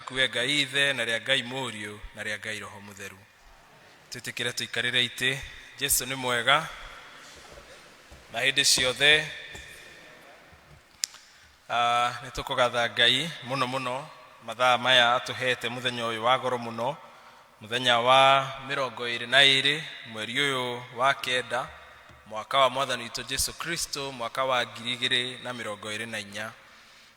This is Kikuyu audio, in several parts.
Waku we Ngai Ithe, na rĩa Ngai Mũriũ, na rĩa Ngai Roho Mũtheru. Twĩtĩkĩre tũikarĩre itĩ. Jesu nĩ mwega na hĩndĩ ciothe. Ah, Nĩ tũkũgatha Ngai mũno mũno mathaa maya atũhete mũthenya ũyũ wa goro mũno, mũthenya wa mĩrongo ĩrĩ na ĩrĩ mweri ũyũ wa kenda mwaka wa mwathani witũ Jesu Kristo mwaka wa ngiri igĩrĩ na mĩrongo ĩrĩ na inya.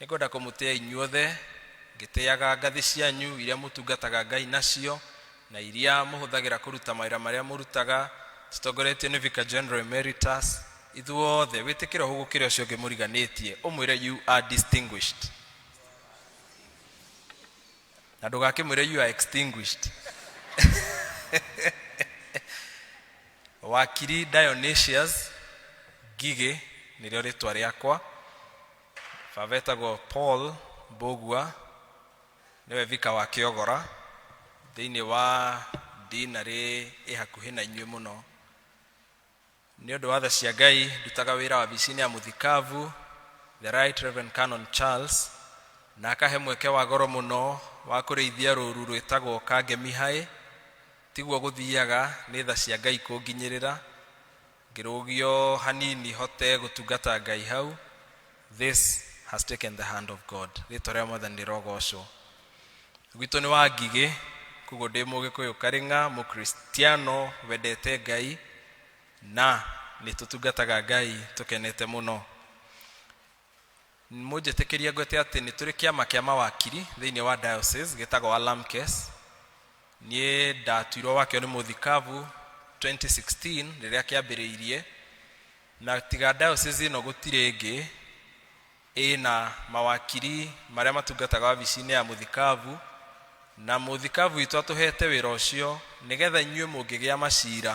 nĩ ngwenda kũmũtĩa inyuothe ngĩtĩaga ngathĩ cianyu iria mũtungataga ngai nacio na iria mũhũthagĩra kũruta mawĩra marĩa mũrutaga tũtongoretio nĩ vicar general emeritus ithuothe wĩtĩkĩra ũhũ gũkĩra ũcio ũngĩ mũriganĩtie ũmwĩre you are distinguished na ndũgakĩmwĩre you are extinguished wakiri dionysius ngigĩ nĩrĩo rĩtwa rĩakwa baba etagwo paul mbũgua nĩwe vika wa kĩogora thĩinĩ wa dinarĩ ĩ hakuhĩ na inyuĩ mũno nĩ ũndũ wa tha cia ngai ndutaga wĩra wa bicinĩ ya mũthikavu the right reverend canon charles na akahe mweke wa goro mũno wa kũrĩithia rũru rwĩtagwo kangemihaĩ tiguo gũthiaga nĩ tha cia ngai kũnginyĩrĩra Ngĩrũgio hanini hote gũtungata Ngai hau, this has taken the hand of God. Rĩtwa rĩa Mwathani rĩrogocwo. Gwitũ nĩ wa Ngigĩ, koguo ndĩ Mũgĩkũyũ Karĩng'a, Mũkristiano wendete Ngai na nĩ tũtungataga Ngai tũkenete mũno. Mũnjĩtĩkĩrie ngwĩte atĩ nĩ tũrĩ kĩama kĩa mawakiri thĩinĩ wa diocese gĩtagwo Alamkes. Niĩ ndatuirwo wakĩo nĩ mũthikabu 2016 rĩrĩa kĩambĩrĩirie, na tiga diocese ĩno gũtirĩ ĩngĩ ĩna mawakiri marĩa matungataga wabici-inĩ ya mũthikabu, na mũthikabu witũ atũhete wĩra ũcio nĩgetha inyuĩ mũngĩgĩa macira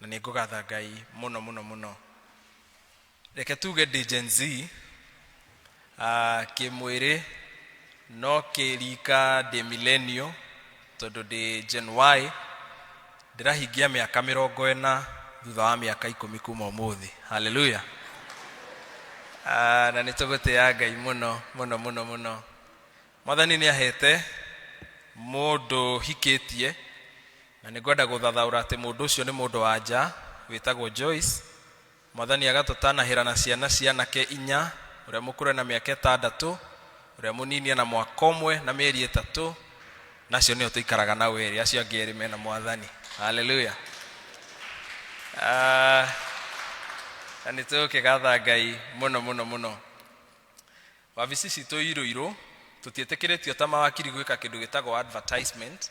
na nĩ ngũgatha ngai mũno mũno mũno reke tuge ndĩ gen z ah, kĩmwĩrĩ no kĩrika ndĩ milenio tondũ ndĩ gen y ndĩrahingia mĩaka mĩrongo ĩna thutha wa mĩaka ikũmi kuma ũmũthĩ haleluya Ah, na nĩ tũgũtĩa ngai mũno mũno mũno mũno mwathani nĩ ahete mũndũ hikĩtie Na nĩngwenda gũthathaũra atĩ mũndũ ũcio nĩ mũndũ-wa-nja wĩtagwo Joyce. Mwathani agatũtanahĩra na ciana cia anake inya, ũrĩa mũkũrũ ena mĩaka ĩtandatũ, ũrĩa mũnini ena mwaka ũmwe na mĩeri ĩtatũ, na acio nĩo tũikaraga nao erĩ, acio angĩ erĩ mena Mwathani. Hallelujah. Ah, na nĩ tũkĩgatha Ngai mũno mũno mũno. Wabici citũ irũirũ, tũtiĩtĩkĩrĩtio ta mawakiri gwĩka kĩndũ gĩtagwo advertisement,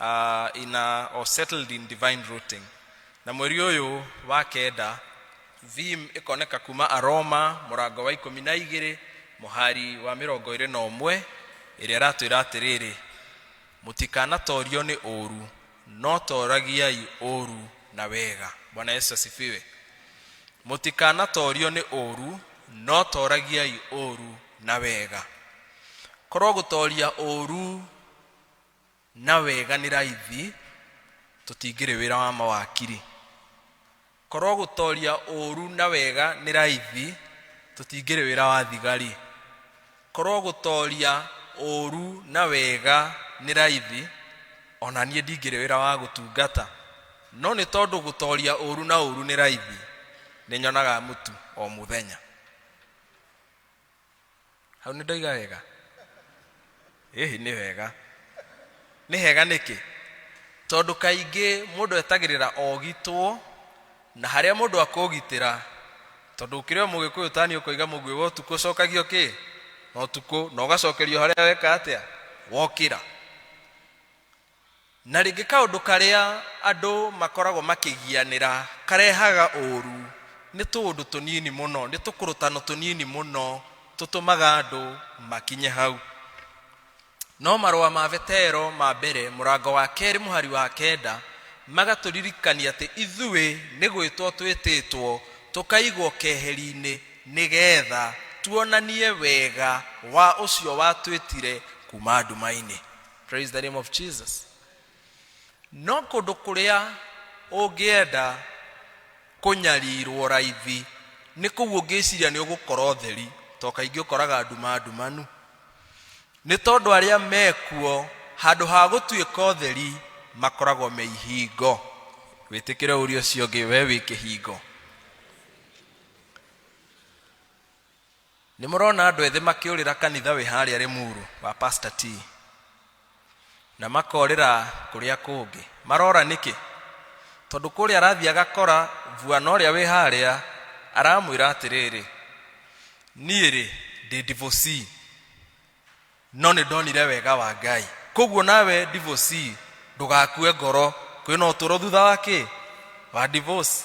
uh, in a, or settled in divine routing na mweri ũyũ wa kenda vim ĩkoneka kuma aroma mũrango wa ikũmi na igĩrĩ mũhari wa mĩrongo ĩrĩ na ũmwe ĩrĩa ĩratwĩra atĩrĩrĩ mũtikanatorio nĩ ũũru no toragiai ũũru na wega bwana yesu asifiwe mũtikanatorio nĩ ũũru no toragiai ũũru na wega korwo gũtoria ũũru na wega nĩ raithi tũtingĩrĩ wĩra wa mawakiri korwo gũtoria ũru na wega nĩ raithi tũtingĩrĩ wĩra wa thigari korwo gũtoria ũru na wega nĩ raithi ona niĩ ndingĩrĩ wĩra wa gũtungata no nĩ tondũ gũtoria ũru na ũru nĩ raithi nĩ nyonaga mũtu o mũthenya hau nä ndoiga wega ĩhĩ nĩ wega nĩ hega nĩkĩ tondũ kaingĩ mũndũ etagĩrĩra ogitwo na harĩa mũndũ akũgitĩra tondũ ũkĩrĩ o mũgĩkũyũ ũtani ũkoiga mũguĩ wa ũtukũ ũcokagio kĩ na ũtukũ na ũgacokerio harĩa weka atĩa wokĩra Na rĩngĩ kaũndũ karĩa andũ makoragwo makĩgianĩra karehaga ũũru nĩ tũũndũ tũnini mũno, nĩ tũkũrũtano tũnini mũno tũtũmaga andũ makinye hau. No marũa ma Vetero ma mbere mũrango wa kerĩ mũhari wa kenda magatũririkania atĩ ithuĩ nĩ gwĩtwo twĩtĩtwo tũkaigwo keheri-inĩ nĩgetha tuonanie wega wa ũcio watwĩtire kuma nduma-inĩ. praise the name of jesus no kũndũ kũrĩa ũngĩenda kũnyarirwo raithi nĩ kũu ũngĩciria nĩ ũgũkorwo theri to kaingĩ ũkoraga nduma ndumanu nĩ tondũ arĩa mekuo handũ ha gũtuĩka ũtheri makoragwo me ihingo wĩtĩkĩre ũria ũcio ũngĩ we wĩ kĩhingo nĩ mũrona andũ ethĩ makĩũrĩra kanitha wĩ harĩa rĩmuru wa pastor t na makorĩra kũrĩa kũngĩ marora nĩkĩ tondũ kũrĩa arathiĩ agakora vuana ũrĩa wĩ harĩa aramwĩra atĩrĩrĩ niĩ rĩ ndĩ divorcee no nĩ ndonire wega wa ngai koguo nawe divorce ndũgakue ngoro kwĩna ũtũro thutha wa kĩ wa divorce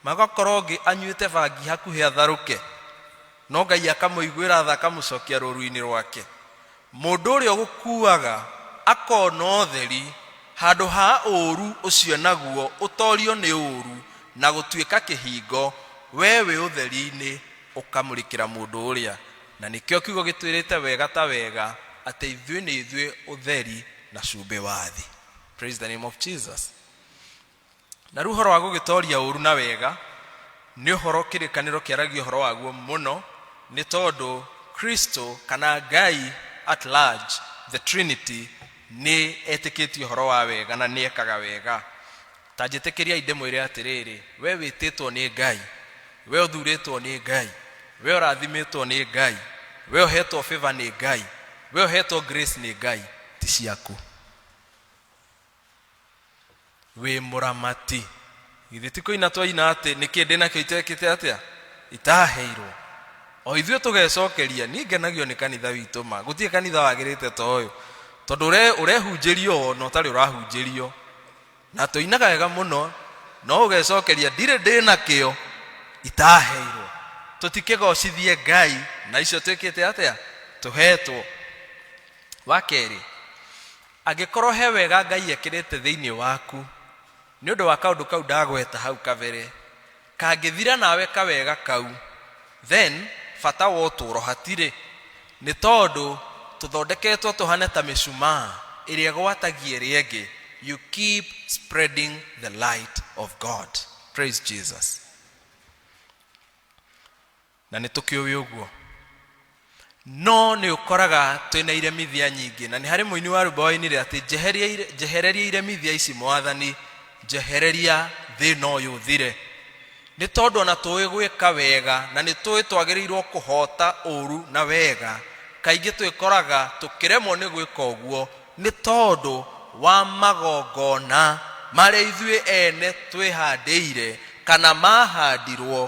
magakorwo ngĩ anyuĩte bangi hakuhĩ atharũke no ngai akamũiguĩra tha akamũcokia rũru-inĩ rwake mũndũ ũrĩa ũgũkuaga akona ũtheri handũ ha ũũru ũcio naguo ũtorio nĩ ũũru na gũtuĩka kĩhingo we wĩ ũtheri-inĩ ũkamũrĩkĩra mũndũ ũrĩa Na nĩkĩo kiugo gĩtwĩrĩte wega ta wega atĩ ithuĩ nĩ ithuĩ ũtheri na cumbĩ wa thĩ. Praise the name of Jesus. Na rĩu ũhoro wa gũgĩtoria ũru na wega nĩ ũhoro kĩrĩkanĩro kĩaragia ũhoro waguo mũno nĩ tondũ Kristo kana Ngai at large the Trinity nĩ etĩkĩtie ũhoro wa wega na nĩ ekaga wega. ta njĩtĩkĩriai ndĩmwĩre atĩrĩrĩ we wĩtĩtwo nĩ ngai we ũthurĩtwo nĩ ngai we ũrathimĩtwo nĩ ngai we ũhetwo favor nĩ ngai we ũhetwo grace nĩ ngai ti ciaku wĩ mũramati githĩ ti kũina twaina atĩ nĩkĩ ndĩ nakĩo itekĩte atĩa itaheirwo o ithuĩ tũgecokeria niĩ ngenagio nĩ kanitha witũ ma gũtirĩ kanitha wagĩrĩte ta ũyũ tondũ ũre- ũrehunjĩrio wona ũtarĩ ũrahunjĩrio na tũinaga wega mũno no ũgecokeria ndirĩ ndĩ na kĩo itaheirwo tũtikĩgocithie ngai na icio twĩkĩte atĩa tũhetwo wa kerĩ angĩkorwo he wega ngai ekĩrĩte thĩinĩ waku nĩ ũndũ wa kaũndũ kau ndagweta hau kabere Kangĩthira nawe kawega kau, then bata wa ũtũũro hatirĩ. Nĩ tondũ tũthondeketwo tũhane ta mĩcumaa ĩrĩa ĩgwatagia ĩrĩa ĩngĩ. You keep spreading the light of God. Praise Jesus. na nĩ tũkĩũĩ ũguo no nĩ ũkoraga twĩna iremithia nyingĩ na nĩ harĩ mũini wa rwĩmbo wainire atĩ "Njeheria ire- njehereria iremithia ici mwathani njehereria thĩna ũyũ ũthire nĩ tondũ ona tũĩ gwĩka wega na nĩ tũĩ twagĩrĩirwo kũhota ũru na wega kaingĩ twĩkoraga tũkĩremwo nĩ gwĩka ũguo Nĩ tondũ wa magongona marĩa ithuĩ ene twĩhandĩire kana maahandirwo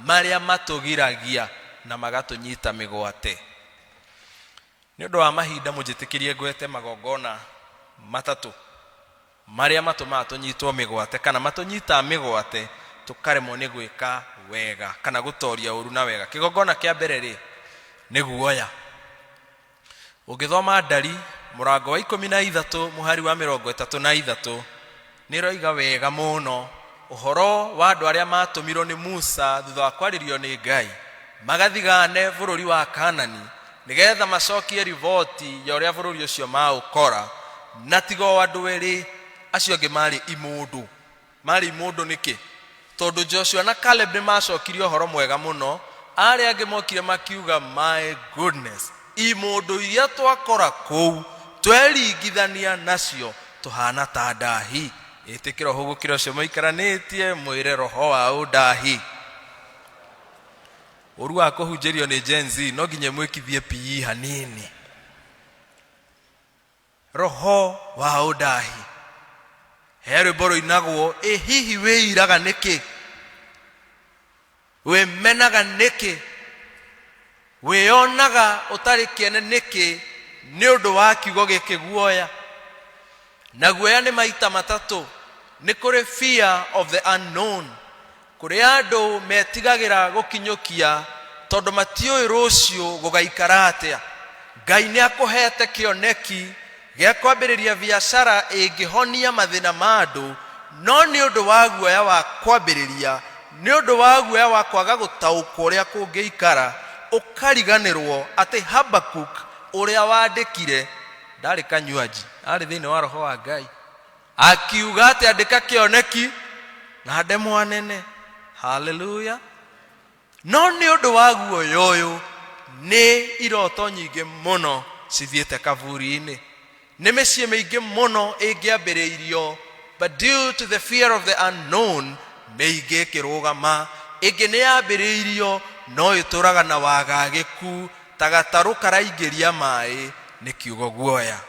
marĩa matũgiragia na magatũnyita mĩgwate. Nĩ ũndũ wa mahinda mũnjĩtĩkĩrie ngwete magongona matatũ marĩa matũmaga tũnyitwo mĩgwate kana matũnyitaga mĩgwate tũkaremwo nĩ gwĩka wega kana gũtoria ũru na wega. Kĩgongona kĩa mbere rĩ nĩ guoya. ũngĩthoma ndari mũrango wa ikũmi na ithatũ mũhari wa mĩrongo ĩtatũ na ithatũ nĩ roiga wega mũno ũhoro wa andũ arĩa matũmirwo nĩ musa thutha wa kwarĩrio nĩ ngai magathigane bũrũri wa kanani nĩgetha macokie riboti ya ũrĩa bũrũri ũcio maũkora na tiga o andũ erĩ acio angĩ marĩ imũndũ Marĩ imũndũ nĩkĩ? Tondũ Joshua na Caleb nĩ maacokire ũhoro mwega mũno, arĩa angĩ mokire makiuga, my goodness, imũndũ iria twakora kũu tweringithania nacio tũhana ta ndahi. Ĩtĩkĩra ũhũgũkĩra ũcio maikaranĩtie mwĩre roho wa ũndahi. Ũru wa kũhunjĩrio nĩ Gen Z no nginya mwĩkithie PE hanini. Roho wa ũndaahi. He rwĩmbo rũinagwo, ĩ hihi wĩiraga nĩkĩ? Wĩmenaga nĩkĩ? Wĩyonaga ũtarĩ kĩene nĩkĩ nĩ ũndũ wa kiugo gĩkĩ guoya? Na guoya nĩ maita matatũ, nĩ kũrĩ fear of the unknown, Kũrĩa andũ metigagĩra gũkinyũkia tondũ matiũĩ rũciũ gũgaikara atĩa. Ngai nĩ akũheete kĩoneki gĩa kwambĩrĩria biacara ĩngĩhonia mathĩna ma andũ, no nĩ ũndũ wa guoya wa kwambĩrĩria, nĩ ũndũ wa guoya wa kwaga gũtaũkwo ũrĩa kũngĩikara, ũkariganĩrũo atĩ Habakkuk ũrĩa wandĩkire ndarĩ kanyuanji, aarĩ thĩinĩ wa roho wa Ngai. akiuga atĩ andĩka kĩoneki na ndemwa nene haleluya no nĩ ũndũ wa guoya ũyũ nĩ iroto nyingĩ mũno cithiĩte kaburi-inĩ nĩ mĩciĩ mĩingĩ mũno ĩngĩambĩrĩirio but due to the fear of the unknown mĩingĩ ĩkĩrũgama ĩngĩ nĩ yambĩrĩirio no ĩtũraga na wagagĩku ta gatarũ karaingĩria maĩ nĩ kiugo guoya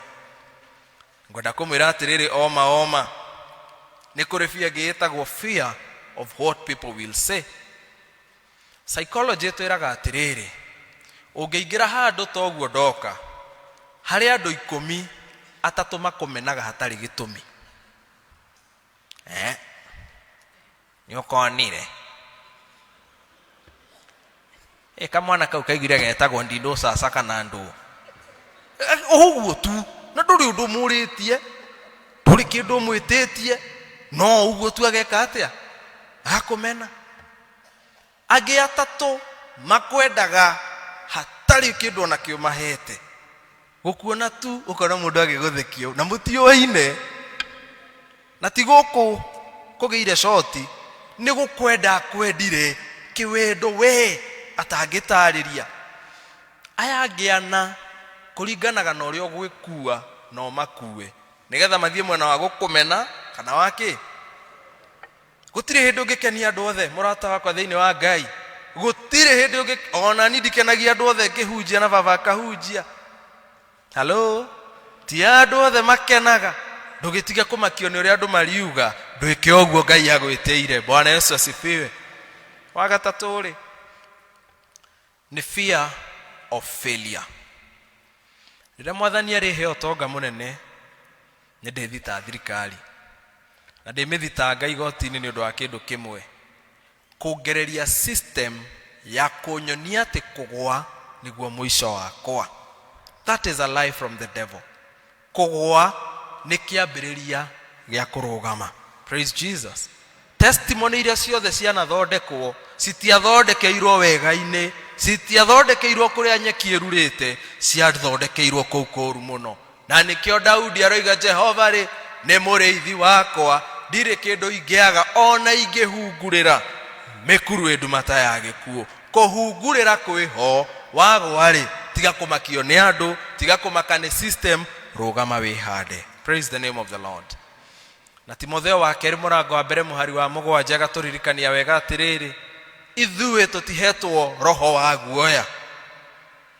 ngwenda kũmwĩra atĩrĩrĩ oma oma nĩ kũrĩ bia ĩngĩ ĩtagwo fear of what people will say psychology twĩraga atĩrĩrĩ ũngĩingĩra handũ ta ũguo ndoka harĩ andũ ikũmi atatũ makũmenaga hatarĩ gĩtũmi eh? nĩ ũkonire ĩ kamwana kau kaigire getagwo ndindũ caca kana ndũ ũguo tu na ndũrĩ ũndũ mũrĩtie ndũrĩ kĩndũ mwĩtĩtie no ũguo tu ageka atĩa akũmena Angĩ atatũ makwendaga hatarĩ kĩndũ ona kĩo mahete. Gũkuona tu ũkona mũndũ agĩgũthekia na mũtiũaine. Na ti gũkũ kũgĩire coti nĩ gũkwenda kwendire kĩwendo we atangĩtarĩria. Aya angĩ ana kũringanaga na ũrĩa ũgwĩkua na ũmakue nĩgetha mathiĩ mwena wa gũkũmena kana wa kĩ gũtirĩ hĩndĩ ũngĩkenia andũ othe mũrata wakwa thĩinĩ wa ngai gũtirĩ hĩndĩ ũngĩ ona ni ndikenagia andũ othe ngĩhunjia na baba akahunjia halo ti andũ othe makenaga ndũgĩtige kũmakio nĩ ũrĩa andũ mariuga ndwĩke ũguo ngai agwĩtĩire bwana yesu asifiwe wagatatũ rĩ Nĩ fear of failure. Rĩrĩa mwathani arĩhe ũtonga mũnene nĩ ndĩthita thirikari na ndĩmĩthitanga igoti-inĩ nĩ ũndũ wa kĩndũ kĩmwe kũngereria system ya kũnyonia atĩ kũgwa nĩguo mũico wakwa that is a lie from the devil kũgũa nĩ kĩambĩrĩria gĩa kũrũgama praise jesus testimony iria ciothe cianathondekwo citiathondekeirwo wega-inĩ citiathondekeirwo kũrĩa nyeki ĩrurĩte ciathondekeirwo kũu kũru mũno na nĩkĩo daudi aroiga jehova rĩ nĩ mũrĩithi wakwa ndirĩ kĩndũ ingĩaga ona ingĩhungurĩra mĩkuru ĩndumata ya gĩkuũ kũhungurĩra kwĩho wagwa-rĩ tiga kũmakio nĩ andũ tiga kũmaka nĩ system rũgama wĩhande praise the name of the lord na timotheo wa kerĩ mũrango wa mbere mũhari wa mũgwanja agatũririkania wega atĩrĩrĩ ithuĩ tũtihetwo roho wa guoya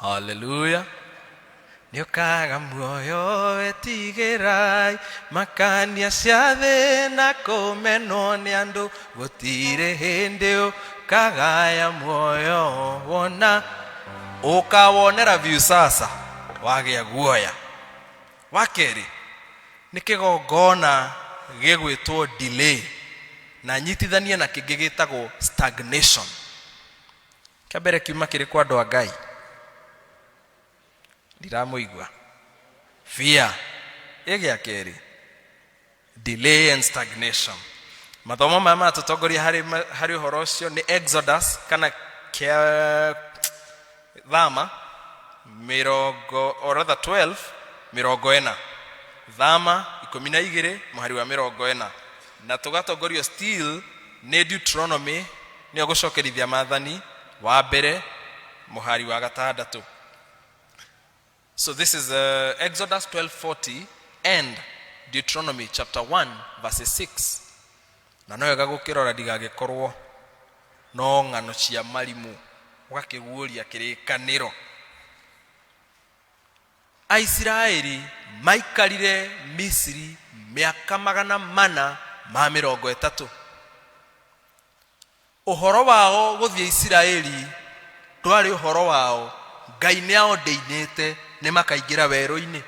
haleluya nĩ ũkaga muoyo wetigĩrai makania cia thĩ na kũmenwo nĩ andũ gũtirĩ hĩndĩ ũkagaya muoyo wona ũkawonera biũ sasa wagĩa guoya wa kerĩ nĩ kĩgongona gĩgwĩtwo delay na nyitithanie na kĩngĩ gĩtagwo stagnation kĩa mbere kiuma kĩrĩ kwa andũ a ngai ndiramũigua fear ĩ gĩa kerĩ delay and stagnation mathomo maya matũtongoria harĩ, ma- harĩ ũhoro ũcio nĩ exodus kana kĩa thama mĩrongo or rather 12 mĩrongo ĩna thama ikũmi na igĩrĩ mũhari wa mĩrongo ĩna na tũgatongorio still nĩ deuteronomy Nĩogũcokerithia Mathani wa mbere mũhari wa gatandatũ. So this is uh, Exodus 12:40 and Deuteronomy chapter 1 verse 6. Na no wega gũkĩrora ndigagĩkorwo no ng'ano cia marimũ ũgakĩguũria kĩrĩkanĩro. Aisiraeli maikarire Misiri mĩaka magana mana ma mĩrongo ĩtatũ. Ũhoro wao gũthiĩ Isiraeli ndwarĩ ũhoro wao, Ngai nĩ ao ndĩinĩte nĩ makaingĩra werũ-inĩ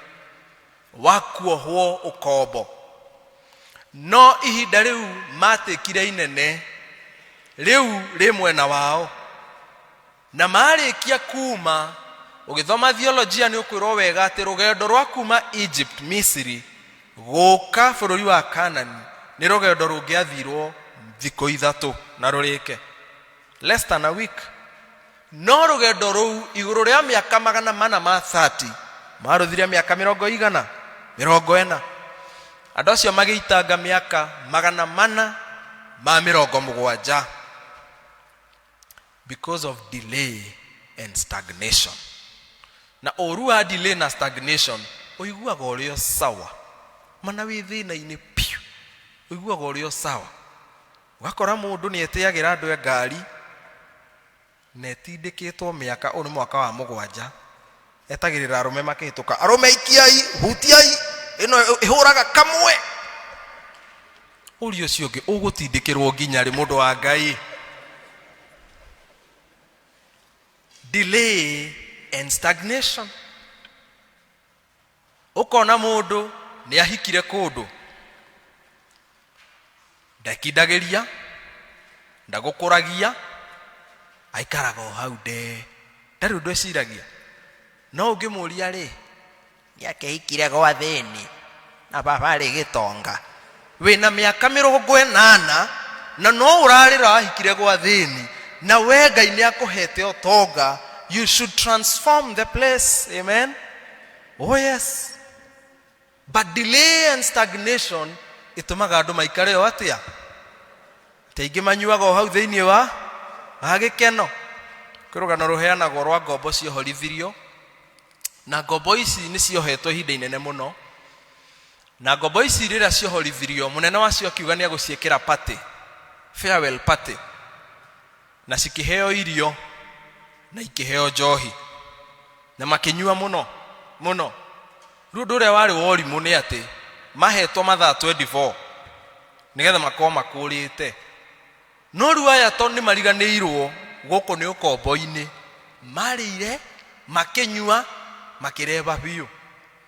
wa kuohwo ũkombo. No ihinda rĩu matĩkire inene rĩu rĩ mwena wao, na marĩkia kuma ũgĩthoma theolojia nĩ ũkwĩrwo wega atĩ rũgendo rwa kuma egypt misiri gũka bũrũri wa kanani nĩ rũgendo rũngĩathirwo thikũ ithatũ na rũrĩke less than a week no rũgendo rũu igũrũ rĩa mĩaka magana mana ma 30 marũthire mĩaka mĩrongo igana mĩrongo ena andũ acio magĩitanga mĩaka magana mana ma mĩrongo mũgwanja because of delay and stagnation na ũru wa delay na stagnation ũiguaga ũrĩ o sawa mana wĩ thĩna-inĩ piũ ũiguaga ũrĩ o sawa ũgakora mũndũ nĩ etĩagĩra andũ a ngari na etindĩkĩtwo mĩaka ũyũ nĩ mwaka wa mũgwanja etagĩrĩra arũme makĩhĩtũka arũme ikiai hutiai ĩno ĩhũraga kamwe ũria ũcio ũngĩ ũgũtindĩkĩrwo nginya rĩ mũndũ wa ngai delay and stagnation ũkona mũndũ nĩ ahikire kũndũ ndekindagĩria ndagũkũragia aikaraga o hau nde ndarĩ ũndũ eciragia no ũngĩmũria rĩ nĩ akehikire gwa thĩni na baba arĩ gĩtonga wĩna mĩaka mĩrongo ĩnana na no ũrarĩra wahikire gwa thĩni na we ngai nĩ akũhete ũtonga you should transform the place amen Oh yes. But delay and stagnation itumaga andu maikare o atia. Teingĩ manyuaga o hau thĩinĩ wa agĩkeno. Kĩrũgano rũheanagwo rwa ngombo ciohorithirio na ngombo ici nĩ ciohetwo ihinda inene mũno na ngombo ici rĩrĩa ciohorithirio mũnene wacio akiuga nĩ agũciĩkĩra party farewell party na cikĩheo irio na ikĩheo njohi na makĩnyua mũno mũno rĩu ũndũ ũrĩa warĩ worimũ nĩ atĩ mahetwo mathaa 24 nĩgetha makorwo makũrĩte no rĩu aya to nĩ mariganĩirwo gũkũ nĩ ũkombo-inĩ marĩire makĩnyua makĩreba biũ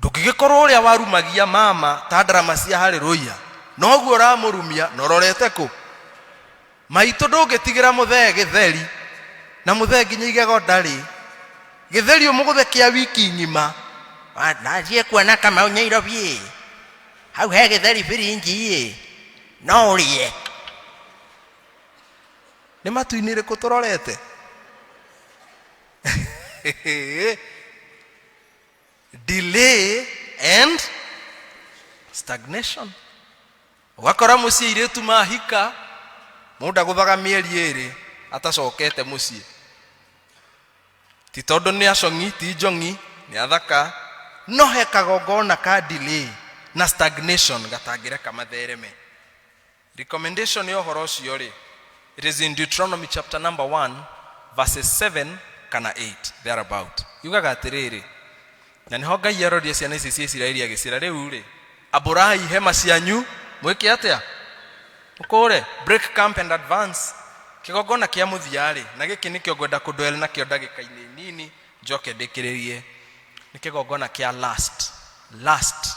ndũngĩgĩkorwo ũrĩa warumagia mama ta ndarama cia harĩrũia noguo ũramũrumia na ũrorete kũ maitũ ndũngĩtigĩra mũthee gĩtheri na mũthee nginya igego ndarĩ gĩtheri ũmũgũthe kĩa wiki ng'ima Wa- nathiĩ kuona kamau nyairobiĩ hau he gĩtheri biringiĩ no ũrĩe nĩ matu-inĩ rĩkũ tũrorete delay and stagnation ũgakora mũciĩ irĩtu mahika mũndũ agũthaga mĩeri ĩrĩ atacokete mũciĩ ti tondũ nĩ acong'i ti njong'i nĩ athaka no he kagongona ka delay na stagnation gatangĩreka mathereme recommendation ya ũhoro ũcio rĩ it is in deuteronomy chapter number 1 verses 7 kana 8 thereabout yugaga atĩrĩrĩ na nĩho ngai arorire ciana ici cia isiraeli agĩcira rĩu rĩ ambũrai hema cianyu mwĩke atĩa mũkũre break camp and advance kĩgongona kĩa mũthiarĩ na gĩkĩ nĩkĩo ngwenda kũndwele nakĩo ndagĩka-inĩ nini njoke ndĩkĩrĩrie nĩ kĩgongona kĩa last last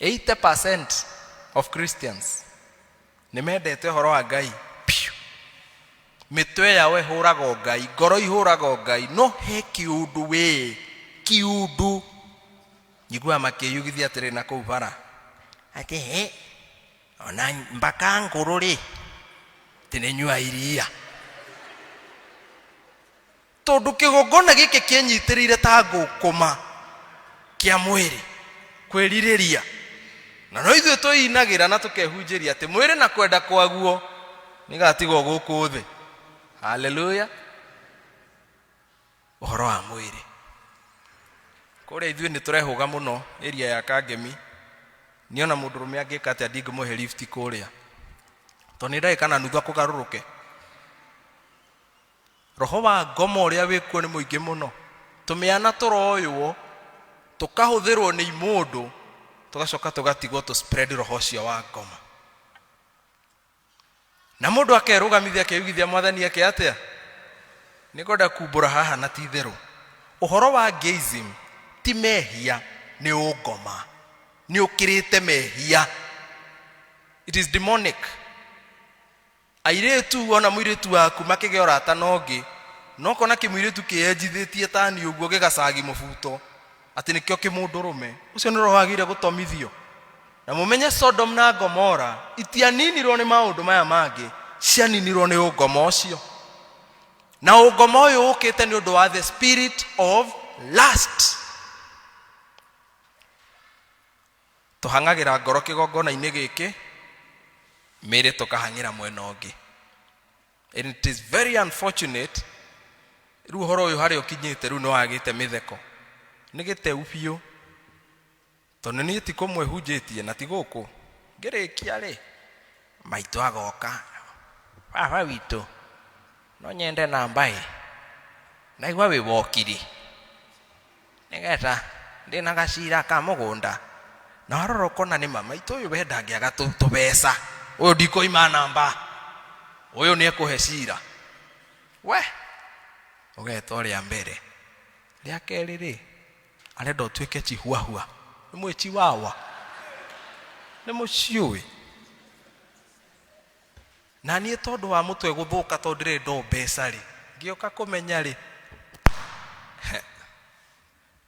80% of Christians nĩ mendete ũhoro wa Ngai piũ mĩtwe yao ĩhũraga o Ngai ngoro ihũraga o Ngai no he kiundu wĩ kiundu njiguaga makĩyugithia atĩrĩ na kũu bara atĩ he ona mbaka ngũrũ rĩ tĩnĩnyua iria tondũ kĩgongona gĩkĩ kĩenyitĩrĩire ta ngũkũma kĩa mwĩrĩ kwĩrirĩria na no ithuĩ twĩinagĩra na tũkehunjĩria atĩ mwĩrĩ na kwenda kwaguo nĩgatigwo gũkũ thĩ haleluya ũhoro wa mwĩrĩ kũrĩa ithuĩ nĩ tũrehũga mũno ĩria ya kangemi nĩ ona mũndũ rũme angĩka atĩa ndingĩmũhe lift kũrĩa tondũ nĩ ndagĩka na nuthu akũgarũrũke Roho wa ngomo ũrĩa wĩ kuo nĩ mũingĩ mũno. Tũmĩana tũroywo, tũkahũthĩrwo nĩ imũndũ, tũgacoka tũgatigwo tũ spread roho ũcio wa ngomo. Na mũndũ akerũgamithia akeyugithia mwathani ake atĩa? Nĩ ngwenda kumbũra haha na ti itherũ. Ũhoro wa gayism ti mehia, nĩ ũngoma. Nĩ ũkĩrĩte mehia. It is demonic. airĩtu ona mũirĩtu waku makĩgĩa ũrata na ũngĩ no kona kĩmũirĩtu kĩyenjithĩtie tani ũguo gĩgacagi mũbuto atĩ nĩkĩo kĩmũndũrũme ũcio nĩ roho agĩire gũtomithio na mũmenye sodom na gomora itianinirwo nĩ maũndũ maya mangĩ cianinirwo nĩ ũngoma ũcio na ũngoma ũyũ ũkĩte nĩ ũndũ wa the spirit of last Tũhang'agĩra ngoro kĩgongona-inĩ gĩkĩ, mĩĩrĩ tũkahang'ĩra mwena ũngĩ. And it is very unfortunate, rĩu ũhoro ũyũ harĩa ũkinyĩte rĩu nĩ wagĩte mĩtheko. Nĩ gĩteu biũ. Tondũ niĩ ti kũmwe hunjĩtie na ti gũkũ. Ngĩrĩkia rĩ, maitũ agoka. Baba witũ, no nyende namba ĩ. Naigua wĩ wokiri. nĩgetha ndĩ na gacira ka mũgũnda na warora ũkona nĩ mama itũ ũyũ we ndangĩaga tũ- tũbeca ũyũ ndikũima namba ũyũ nĩ ekũhe cira we ũgeta ũrĩa mbere rĩa kerĩ rĩ arenda ũtuĩke chihuahua nĩ mwĩ chiwawa nĩ mũciũĩ Na niĩ tondũ wa mũtwe gũthũka tondũ ndirĩ ndo mbeca rĩ ngĩoka kũmenya rĩ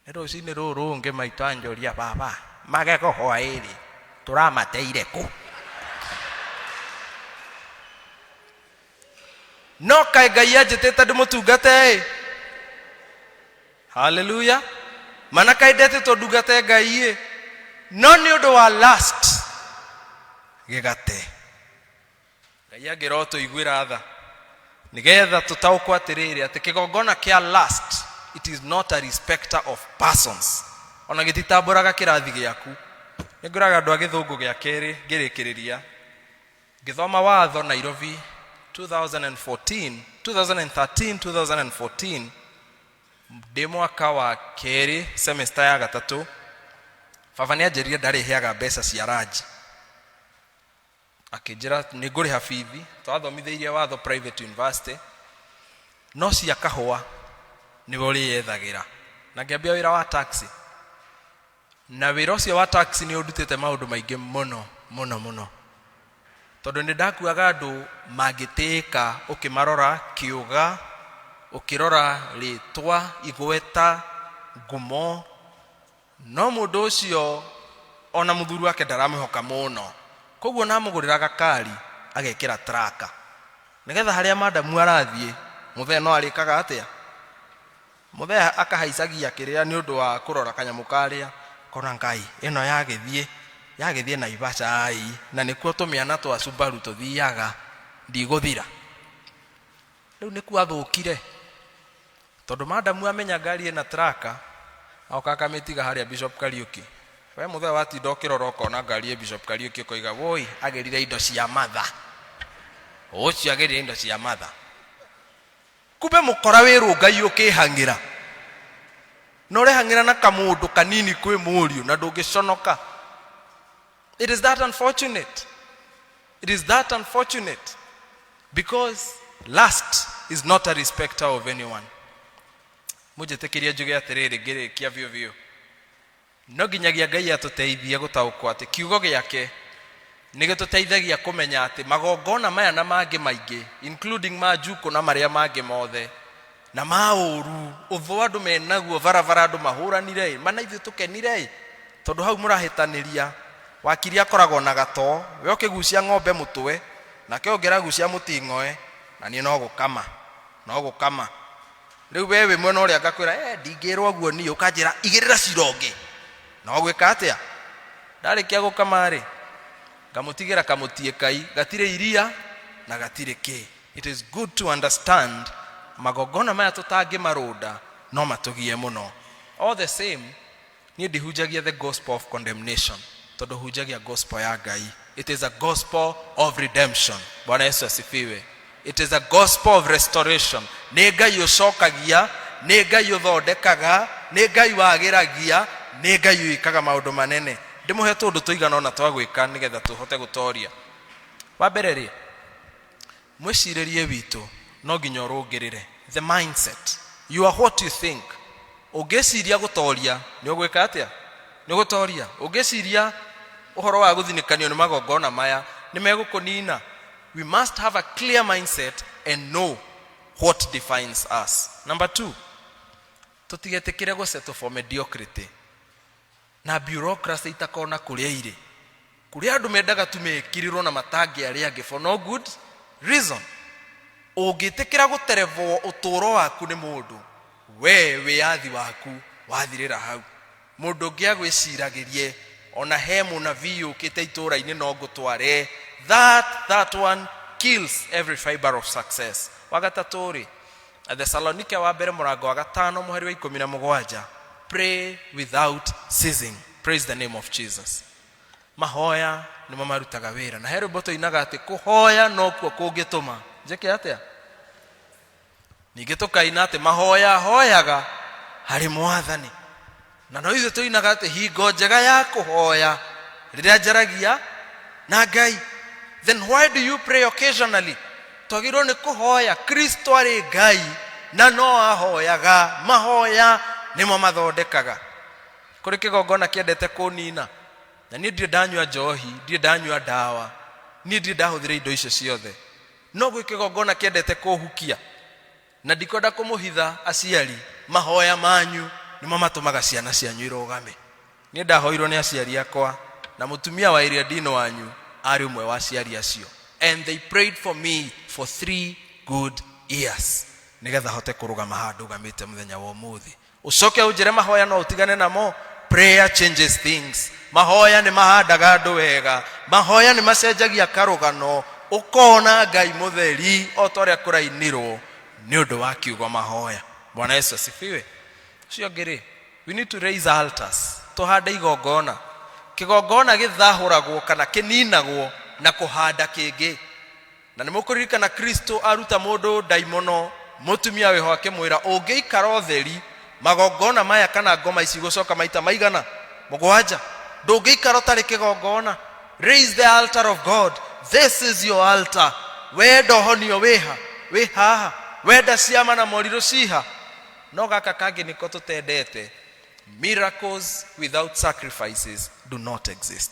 nĩ rũcinĩ rũrũ rũngĩ maitũ anjoria baba magego hwaĩrĩ tũramateire kũ no kaĩ ngai anjĩtĩte ndĩmũtungate ĩ haleluya mana kaĩ ndetĩtwo ndungate ngai ĩ no nĩ ũndũ wa last gĩgate ngai angĩra ũtũiguĩra tha nĩgetha tũtaũkwo atĩrĩrĩ atĩ kĩgongona kĩa last it is not a respecter of persons ona gĩtitambũraga kĩrathi gĩaku nĩngũraga andũ a gĩthũngũ gĩa kerĩ ngĩrĩkĩrĩria ngĩthoma watho nairobi 2014 2013 2014 ndĩ mwaka wa kerĩ semesta ya gatatũ baba nĩ anjĩrire ndarĩheaga mbeca cia ranji akĩnjĩra nĩ ngũrĩha bithi twathomithĩirie watho private university no cia kahũa nĩwe ũrĩyethagĩra na ngĩambia wĩra wa taxi na wĩra ũcio wa taxi nĩ ũndutĩte maũndũ maingĩ mũno mũno mũno tondũ nĩ ndakuaga andũ mangĩtĩĩka ũkĩmarora kĩũga ũkĩrora rĩtwa igweta ngumo No mũndũ ũcio o na mũthuri wake ndaramĩhoka mũno, kwoguo nĩ amũgũrĩra gakari agekĩra traka nĩgetha harĩa madamu arathiĩ mũthee no arĩkaga atĩa? Mũthee akahaicagia kĩrĩa nĩ ũndũ wa kũrora kanyamũ karĩa kona ngai ĩno yagĩthiĩ yagĩthiĩ Naivasha ai na nĩkuo tũmĩana twa Subaru tũthiaga ndigũthira. Rĩu nĩkuo athũkire tondũ madamu amenya ngari ĩna traka aoka akamĩtiga harĩa Bishop Kariuki we mũthee watinda ũkĩrora ũkona ngari ĩ Bishop Kariuki ũkoiga woi agĩrire indo cia matha ũcio agĩrire indo cia matha kumbe mũkora wĩrũngai ũkĩhang'ĩra na ũrehang'ĩra na kamũndũ kanini kwĩ mũriũ na ndũngĩconoka It is that unfortunate. It is that unfortunate because lust is not a respecter of anyone. Mũnjĩtĩkĩria njuge atĩrĩrĩ ngĩrĩkia biũ biũ. No nginyagia Ngai atũteithie gũtaũkwo atĩ kiugo gĩake nĩ gĩtũteithagia kũmenya atĩ magongona maya na mangĩ maingĩ including ma njuko na marĩa mangĩ mothe na maũru ũthũ andũ menaguo barabara andũ mahũranire ĩ mana ithuĩ tũkenire ĩ tondũ hau mũrahĩtanĩria wakiri akoragwo na gatoo we ũkĩgucia ng'ombe mũtwe nake ũngĩragucia mũting'oe na niĩ no gũkama no gũkama rĩu we wĩ mwena ũrĩa ngakwĩra eh ndingĩrwo ũguo niĩ ũkanjĩra igĩrĩra cira ũngĩ no gwĩka atĩa ndarĩkia gũkama rĩ ngamũtigĩra kamũtiĩ kai gatirĩ iria na gatirĩ kĩĩ It is good to understand magongona maya tũtangĩmarũnda no matũgie mũno all the same niĩ ndihunjagia the gospel of condemnation tondũ hunjagia gospel ya ngai it is a gospel of redemption bwana yesu asifiwe it is a gospel of restoration nĩ ngai ũcokagia nĩ ngai ũthondekaga nĩ ngai wagĩragia nĩ ngai wĩkaga maũndũ manene ndĩmũhe tũndũ tũigana ona twa gwĩka nĩgetha tũhote gũtoria wa mbere rĩ mwĩcirĩrie witũ no nginya ũrũngĩrĩre the mindset you are what you think ũngĩciria gũtoria nĩ ũgwĩka atĩa nĩ gũtoria ũngĩciria ũhoro wa gũthinĩkanio nĩ magongona maya nĩ megũkũnina we must have a clear mindset and know what defines us number two tũtigetĩkĩre gũsetwo for mediocrity na bureaucracy itakona kũrĩa irĩ kũrĩa andũ mendaga tu mekirĩrwo na matangĩ arĩa angĩ for no good reason ũngĩtĩkĩra gũterevwo ũtũũro waku nĩ mũndũ we wĩyathi waku wathirĩra hau mũndũ ũngĩ agwĩciragĩrie ona he mũnabii ũkĩte itũũra-inĩ no ngũtware that that one kills every fiber of success wagatatũ rĩ athesalonike wa mbere mũrango wa gatano mũhari wa ikũmi na mũgwanja pray without ceasing praise the name of jesus mahoya nĩmo marutaga wĩra na he rwĩmbo tũinaga atĩ kũhoya nokuo kũngĩtũma njĩke atĩa ningĩ tũkaina atĩ mahoya hoyaga harĩ mwathani na no ithuĩ tũinaga atĩ hingo njega ya kũhoya rĩrĩa njaragia na ngai then why do you pray occasionally twagĩrĩirwo nĩ kũhoya kristo arĩ ngai na no ahoyaga mahoya nĩmo mathondekaga kũrĩ kĩgongona kĩendete kũnina na niĩ ndirĩ ndanyua njohi ndirĩ ndanyua ndawa niĩ ndirĩ ndahũthĩra indo icio ciothe no gwĩ kĩgongona kĩendete kũhukia na ndikwenda kũmũhitha aciari mahoya manyu nĩmo matũmaga ciana cianyu irũgame niĩ ndahoirwo nĩ aciari akwa na mũtumia wa ĩrĩa ndino wanyu arĩ ũmwe wa aciari acio and they prayed for me for three good years nĩgetha hote kũrũgama handũ gamĩte mũthenya wa ũmũthĩ ucoke unjire mahoya no utigane namo prayer changes things mahoya nĩ mahandaga andũ wega mahoya nĩ macenjagia karũgano ũkona ngai mũtheri o ta ũrĩa kũrainirwo nĩ ũndũ wa kiugo mahoya bwana yesu asifiwe ũcio ũngĩ rĩ we need to raise altars tũhande igongona kĩgongona gĩthahũragwo kana kĩninagwo na kũhanda kĩngĩ na nĩ mũkũririkana kristo aruta mũndũ ndaimono mũtumia wĩho akĩmwĩra ũngĩikara ũtheri magongona maya kana ngoma ici gũcoka maita maigana mũgwanja ndũngĩikara ũtarĩ kĩgongona raise the altar of god this is your altar wenda ũhonio wĩha wĩ haha wenda ciama na morirũ ciha no gaka kangĩ nĩko tũtendete miracles without sacrifices do not exist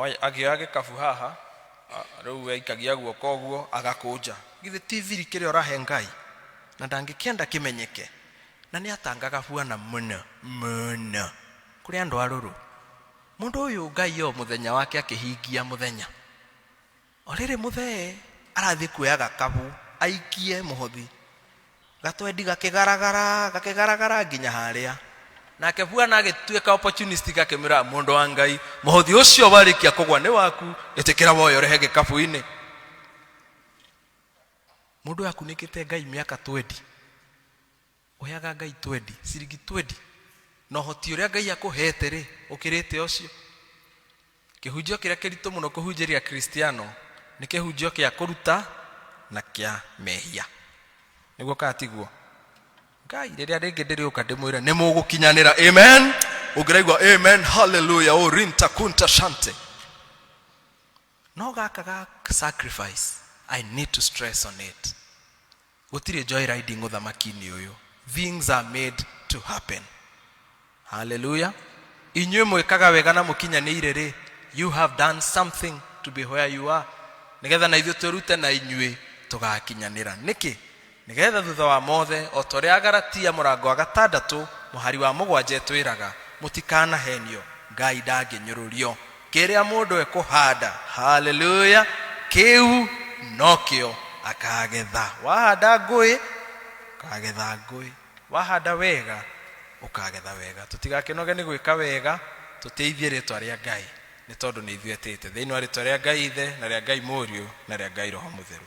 Oya- akĩoya gĩkabu haha a- rĩu aikagia guoko ũguo agakũnja githĩ ti thiri kĩrĩa ũrahe ngai na ndangĩkĩenda kĩmenyeke na nĩ atangaga buana mũno mũno kũrĩ andũ arũrũ mũndũ ũyũ ngai o mũthenya wake akĩhingia mũthenya O rĩrĩ mũthee arathiĩ kuoya gakabu aikie mũhothi gatwendi gakigaragara gakigaragara nginya harĩa nake bwana agĩtuĩka opportunist gakĩmwĩra mũndũ wa ngai mũhothi ũcio warĩkia kũgwa nĩ waku ĩtĩkĩra woyo rehe gĩkabu-inĩ mũndũ akunĩkĩte ngai mĩaka twendi ũheaga ngai 20 ciringi 20 na ũhoti ũrĩa ngai akũhete rĩ ũkĩrĩte ũcio kĩhunjio kĩrĩa kĩritũ mũno kũhunjĩria kristiano nĩ kĩhunjio kĩa kũruta na kĩa mehia nĩguo katiguo ngai rĩrĩa rĩngĩ ndĩrĩũka ndĩmwĩre nĩ mũgũkinyanĩra amen ũngĩraigua amen haleluya o rinta kunta shante No gaka ga sacrifice, I need to stress on it. Gũtirĩ joy riding ũthamaki-inĩ ũyũ. Things are made to happen. Hallelujah. Inyuĩ mwĩkaga wega na mũkinyanĩire rĩ, you have done something to be where you are. Nĩgetha na ithuĩ twĩrute na inyuĩ tũgakinyanĩra. Nĩkĩ? Nĩgeetha thuutha wa moothe, o ta ũrĩa Agalatia mũrango wa gatandatũ mũhari wa mũgwanja ĩtwĩraga, mũtikanaheenio, Ngai ndangĩnyũrũrio. Kĩrĩa mũndũ ekũhaanda, haleluya, kĩu no kĩo akaagetha. Wahaanda ngũĩ, ũkaagetha ngũĩ. Wahaanda wega, ũkaagetha wega. Tũtigakĩnoge nĩ gwĩka wega, tũtĩithie rĩĩtwa rĩa Ngai. nĩ tondũ nĩ ithuĩ etĩte thĩinĩ wa rĩtwa rĩa ngai ithe na rĩa ngai mũriũ na rĩa ngai roho mũtheru